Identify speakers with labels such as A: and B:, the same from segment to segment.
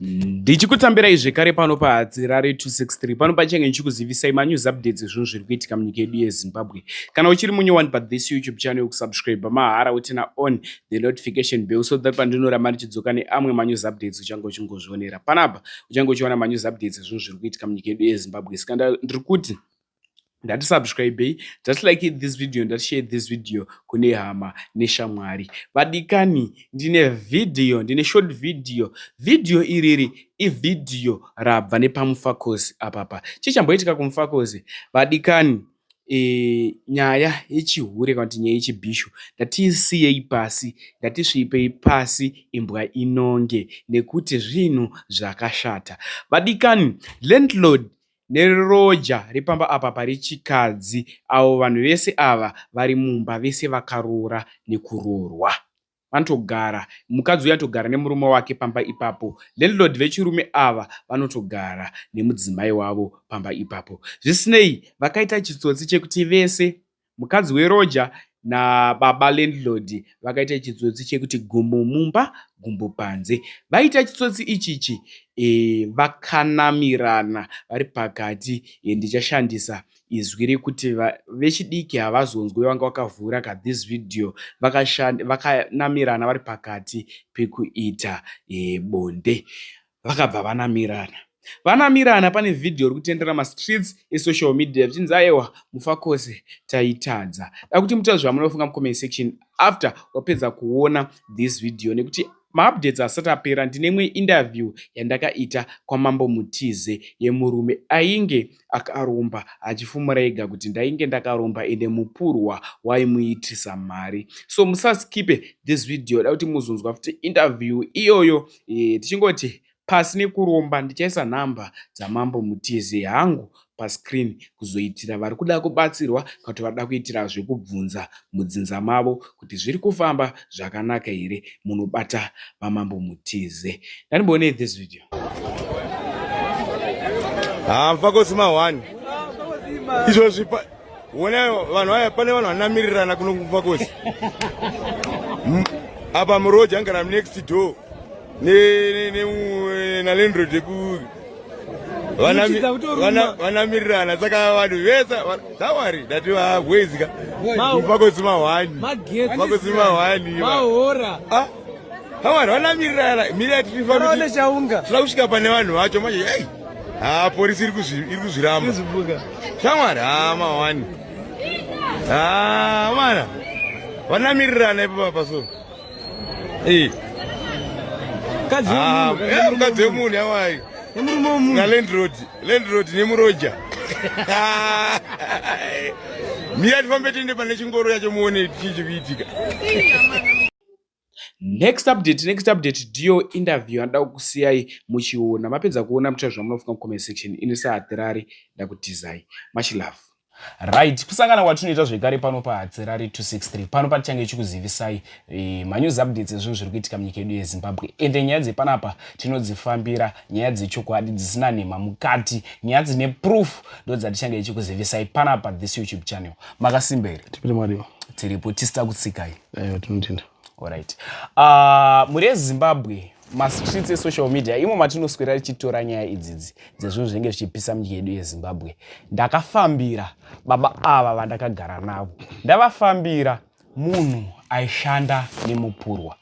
A: ndichikutambirai zvekare pano pahadzirare 263 pano pachange ndichikuzivisai manews updates ezvinhu zviri kuitika munyika yedu yezimbabwe kana uchiri munyowani pa this youtube channel kusubscribe mahara utina on the notification bell so that pandinoramba ndichidzoka neamwe manews updates uchange uchingozvionera panapa uchange uchiona manews updates ezvinhu zviri kuitika munyika yedu yezimbabwe saka ndiri kuti ndati subscribei just like this video ndati share this video kune hama neshamwari vadikani ndine video ndine short video video iriri ivideo rabva nepamufakozi apapa chii chamboitika kumufakozi vadikani e, nyaya yechihure kana kuti nyaya yechibhishu ndatiisiyei pasi ndatisviipei pasi imbwa inonge nekuti zvinhu zvakashata vadikani landlord Neroja repamba apa pari chikadzi avo vanhu vese ava vari mumba vese vakaroora nekuroorwa. Vanotogara mukadzi uya anotogara nemurume wake pamba ipapo. Landlord vechirume ava vanotogara nemudzimai wavo pamba ipapo. Zvisinei vakaita chitsotsi chekuti vese Mukadzi weroja nababa landlord vakaita chitsotsi chekuti gumbo mumba gumbo panze. Vaita chitsotsi ichichi e, vakanamirana vari pakati e, ndichashandisa izwi rekuti vechidiki havazonzwe vanga vakavhura ka this video vakanamirana vaka vari pakati pekuita e, bonde. vakabva vanamirana vanamirana pane vhidhiyo ri kutendera mastreets esocial media zvichinzi ayewa mufakose taitadza da kuti mutaura zvamunoda kufunga mucomment section after wapedza kuona this video nekuti maupdates asati apera ndine imwe interview yandakaita kwamambo mutize yemurume ainge akaromba achifumura ega kuti ndainge ndakaromba ende mupurwa waimuitisa mari so musaskipe this video da kuti muzonzwa futi interview iyoyo Eh, tichingoti pasi nekuromba ndichaisa nhamba dzamambo mutize hangu pascreen kuzoitira vari kuda kubatsirwa kana kuti vada kuitira zvekubvunza mudzinza mavo kuti zviri kufamba zvakanaka here munobata vamambo mutize ndanimboonei this video
B: hamfakosi mahwani izvozvi Wona vanhu aya pane vanhu vanamirirana kuno kumva kosi. Hmm? Apa muroja ngara next door. Ne ne ne na landlord ku vanamirirana saka vanhu vese tawari ndati vahwezika vakozima hwani vakozima hwani tawari ah, vanamirirana miri yatirifakuda kusvika pane vanhu vacho manje Ah, polisi iri kuzviramba. Shamwari, ah, mawani. Ah, mwana. Vanamirirana ipo papa so. Eh. Kadzi ah, wemunhu. Eh, mukadzi wemunhu yawai. Nemurume wemunhu. Na landlord, landlord nemuroja. Miya tifambe tiende pane chingoro yacho muone chii chikuitika.
A: Next update, next update ndiyo interview yandida kukusiyai muchiona. Mapedza kuona muchira zvamunofunga mucomment section. Ini sahatirari ndakutizai. Much love. Right, kusangana kwatinoita zvekare pano pahatirari 263 pano patichange chikuzivisai e, manews updates ezvinhu zviri kuitika munyika yedu yezimbabwe ende nyaya dzepanapa tinodzifambira nyaya dzechokwadi dzisina nhema mukati nyaya dzine proof ndodzatichange chikuzivisai panapa this youtube channel makasimba here tipiri mwariwo
C: tiripo tisita
A: kutsikai Aiwa tinotenda.
C: Alright.
A: Uh, muri ezimbabwe mastreets esocial media imo matinoswera tichitora nyaya idzidzi dzezvinhu zvinenge zvichipisa munyika yedu yezimbabwe ndakafambira baba ava vandakagara navo ndavafambira munhu aishanda nemupurwa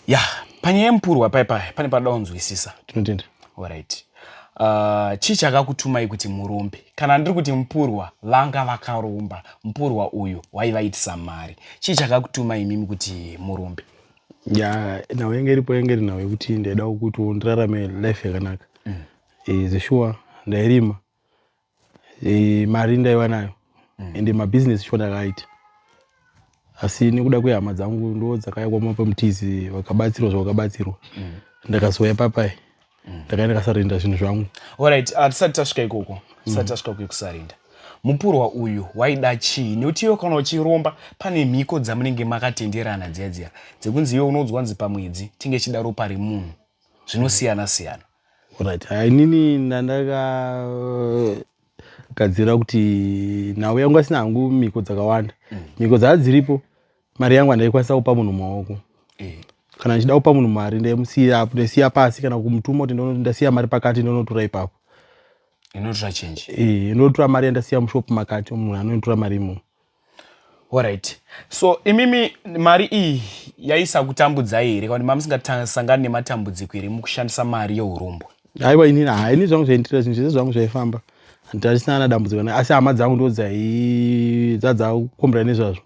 A: ya panyaya yemupurwa pai pai pane panoda kunzwisisa tinotenda
C: orit
A: uh, ah, chii chakakutumai kuti murombe kana ndiri kuti mupurwa vanga vakaromba mupurwa uyu waivaitisa mari chii chakakutumai imimi kuti murombe ya
C: nhau yenge iripo yenge iri nhau yekuti ndaida kutiwo ndirarame life yakanaka mm. e, eh, zeshuwa ndairima e, mari ndaiva nayo mm. ende mabusiness sho ndakaaita asi nekuda kwehama dzangu ndo dzakaya kwama pamutizi vakabatsirwa zvavakabatsirwa mm. ndakazouya papai mm. ndakaenda ndakasarinda zvinhu zvangu orit hatisati
A: tasvika ikoko mm. tisati mm. tasvika kuekusarinda mupurwa uyu waida chii nekuti iwe kana uchiromba pane mhiko dzamunenge makatenderana dziya dziya dzekunzi iwe unoudzwa nzi pamwedzi tinge chida ropa remunhu zvinosiyana siyana
C: Right. Inini ndandakagadzira kuti nhau yangu asina hangu mhiko dzakawanda. Mm. Mhiko dzaa dziripo, mari yangu handaikwanisa kupa munhu maoko. Eh. Kana ndichida kupa munhu mari ndaimusiya apo, ndaisiya pasi kana kumutuma kuti ndasiya mari pakati ndonotora ipapo. Inotora
A: change. Eh, inotora mari
C: yandasiya mushop makati, munhu anonotora mari imomo.
A: Alright. So imimi mari iyi yaisakutambudzai here kana mamusingasangani nematambudziko here mukushandisa mari yeurumbwa? Aiwa inini haa
C: ini zvangu zvaindira zvinhu zvese zvangu zvaifamba handisina ana dambudziko asi hama dzangu ndo dzadzakukombera nezvazvo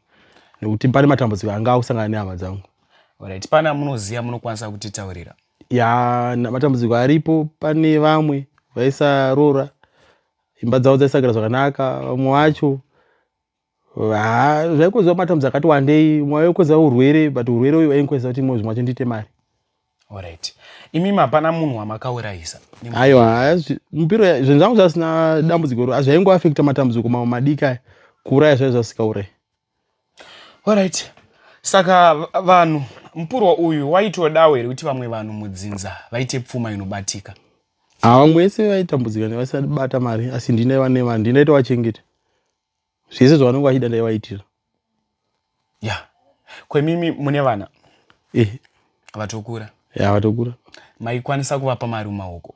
C: nekuti pane matambudziko anga akusangana nehama dzangu. Alright. Pana
A: munoziva munokwanisa kutitaurira? Ya
C: matambudziko aripo pane vamwe vaisarora imba dzavo dzaisagara zvakanaka vamwe vacho zvaikonzerwa matambudzo akati wandei mwe waikonzera urwere but urwere uyu wainkonzera kuti imwe zvimwe vacho ndiite mari orit
A: imi mapana munhu wamakaurayisa aiwa
C: mupiro zvinhu zvangu zvasina dambudziko ro azvaingoafekta matambudziko mamwe madiki aya kuuraya zvaiva zvasikaurayi
A: Alright. Saka vanhu mupurwa uyu waitodawo here kuti vamwe vanhu mudzinza vaite pfuma inobatika? Ah, vamwe
C: vese vaitambudzika nevasati bata mari asi ndine vane vanhu ndinaita vachengete. Zvese zvavanenge vachida ndaivaitira.
A: Yeah. Kwemimi mune vana? Eh. Vatokura. Yeah, vatokura.
C: Maikwanisa
A: kuvapa mari mumaoko?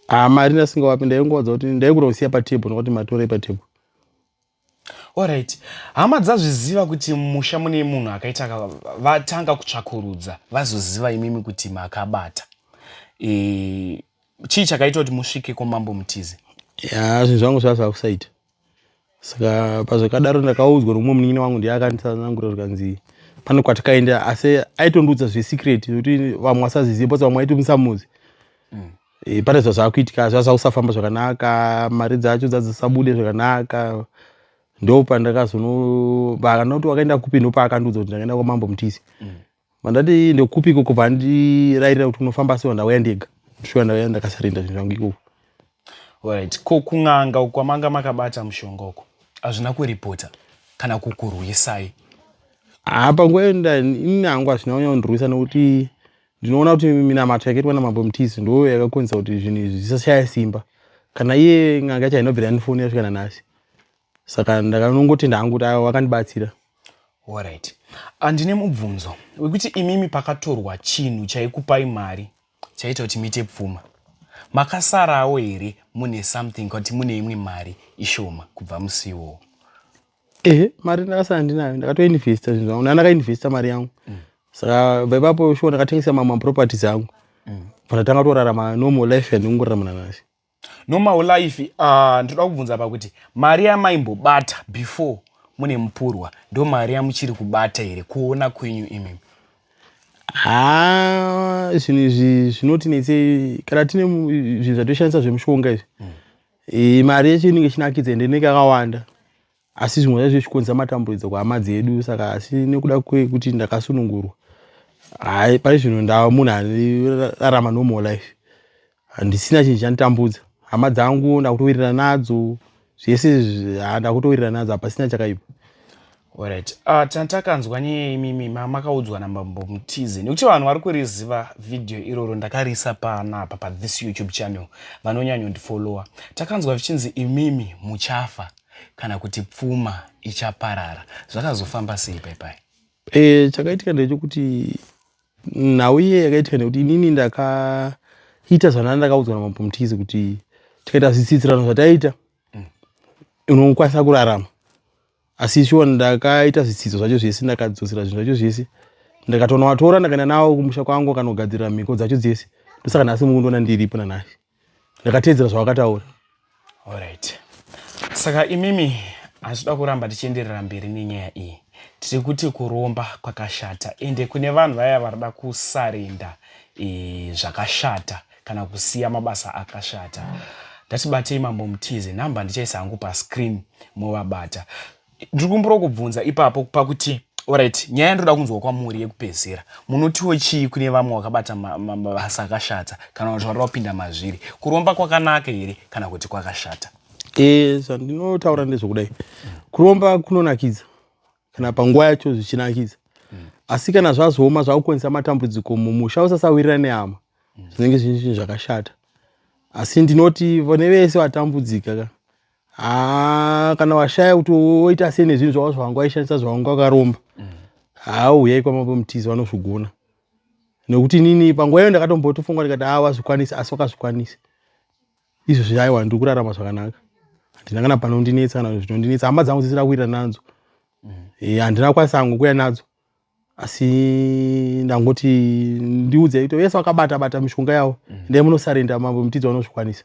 A: Ah,
C: mari ndasingawapi ndaingowadza kuti ndaikuda kusiya patable nokuti matorei patable.
A: Horaiti, hama dzazviziva kuti mumusha mune munhu akaita ka, vatanga kutsvakurudza vazoziva imimi kuti makabata. E, chii chakaita kuti musvike kwamambo Mutize? Ya, zvinhu zvangu
C: zvasava kusaita. Saka pazvakadaro ndakaudzwa nomumwe munin'ina wangu ndiye akanditsanangurira zvikanzi pane kwatakaenda asi aitondiudza zvesecret zvekuti vamwe vasazizive bcause vamwe aiti musamuzi. Mm. Eh, pane zva zvakuitika zva zvakusafamba zvakanaka mari dzacho dzadzisabude zvakanaka ndo pandakazono vakana kuti wakaenda kupi ndo paakandiudza kuti ndakaenda kwamambo mutisi mm. vandati mm. ndokupi ikoko vandirairira kuti kunofamba asi vandauya ndega ndosvika ndauya ndakasarenda zvinhu zvangu ikoko right
A: ko kun'anga uko kwamanga makabata mushonga uko hazvina kuripota kana kukurwisai apa
C: ah, ngoenda ini hangu hazvina kunyanya kundirwisa nekuti ndinoona kuti minamato yakaitwa namambo mutizi ndoo yakakonzesa kuti zvinhu izvi zvisashaya simba kana iye n'anga yacho hainobvira yanifoni yasvikana nhasi saka ndakanongotenda hangu kuti avo vakandibatsira orit
A: andine ah, mubvunzo wekuti imimi pakatorwa chinhu chaikupai mari chaita kuti mite pfuma makasarawo here mune something kuti mune imwe mari ishoma kubva musiwo ehe
C: mari ndakasara ndinayo ndakatoinvesta zvinhu zvangu ndandakainvesta mari yangu mm. saka bva ipapo shuwa ndakatengesa mamwe maproperties angu mm. but atanga kutorarama normal life yandingorarama nanasi normal life
A: ah, ndinoda uh, kubvunza pa kuti mari yamaimbobata before mune mupurwa ndo mari yamuchiri kubata here kuona kwenyu imimi ha
C: zvinhu izvi zvinoti netsei kana tine zvinhu zvatoshandisa zvemushonga izvi mm. E, mari yacho inenge ichinakidza ende inenge yakawanda asi zvimwe zvacho zvichikonzera matambudzo kuhama dzedu saka asi nekuda kwekuti ndakasunungurwa hai pari zvino ndava munhu anorarama normal life handisina chinhu chanditambudza hama dzangu ndakutowirirana nadzo zvese izvi, ah, ndakutowirirana nadzo hapasina chakaipa Alright.
A: Uh, ah, tantakanzwa nyaya imimi makaudzwa nambambo mutize nekuti vanhu vari kuriziva vhidhiyo iroro ndakariisa pana apa pa this youtube channel vanonyanyondifollowa takanzwa vichinzi imimi muchafa kana kuti pfuma ichaparara zvakazofamba sei paipai e, eh, chakaitika
C: ndechekuti nhau iye yakaitika nekuti inini ndakaita zvanaa ndakaudzwa nambambo mutize kuti tikaita zvitsidzirano zvataiita mm. unokwanisa kurarama asi shuwa ndakaita zvitsidzo zvacho zvese ndakadzosera zvinhu zvacho zvese ndakatoona watora ndakaenda nawo kumusha kwangu akanogadzirira mhiko dzacho dzese ndosaka nhasi mukundiona ndiripo nanhasi ndakateedzera zvawakataura orit
A: saka imimi hazvida kuramba tichienderera mberi nenyaya iyi tiri kuti kuromba kwakashata ende kune vanhu vaya varida kusarenda e, zvakashata e, kana kusiya mabasa akashata ndati batei mambo mutize number ndichaisa hangu pascreen movabata ndiri kumbura kubvunza ipapo pakuti orit nyaya ndoda kunzwa kwamuri yekupedzera munotiwo chii kune vamwe wakabata mabasa akashata kana kuti wari wapinda mazviri kuromba kwakanaka here kana kuti kwakashata e,
C: zvandinotaura ndezvekudai kuromba kunonakidza kana panguva yacho zvichinakidza mm. asi kana zvazooma zvakukonzesa matambudziko mumusha usasawirira nehama mm. zvinenge zvine zvinhu zvakashata asi ndinoti vane vese vatambudzika ka haa kana washaya kuti woita sei nezvinhu zvavo zvavanga waishandisa zvavanga wakaromba mm. haa uyai kwamambo mutizi vanozvigona nekuti nini panguva iyo ndakatombotofunga ndikati haa wazvikwanisa asi wakazvikwanisa izvezvi aiwa ndiri kurarama zvakanaka handina kana panondinetsa kana zvinondinetsa hama dzangu dzisira kuita nadzo mm. eh, handina e, kwanisa angu kuya nadzo asi ndangoti ndiudze ito vese vakabata bata mishonga yavo mm. ndai munosarenda mambo mutidzi vanozvikwanisa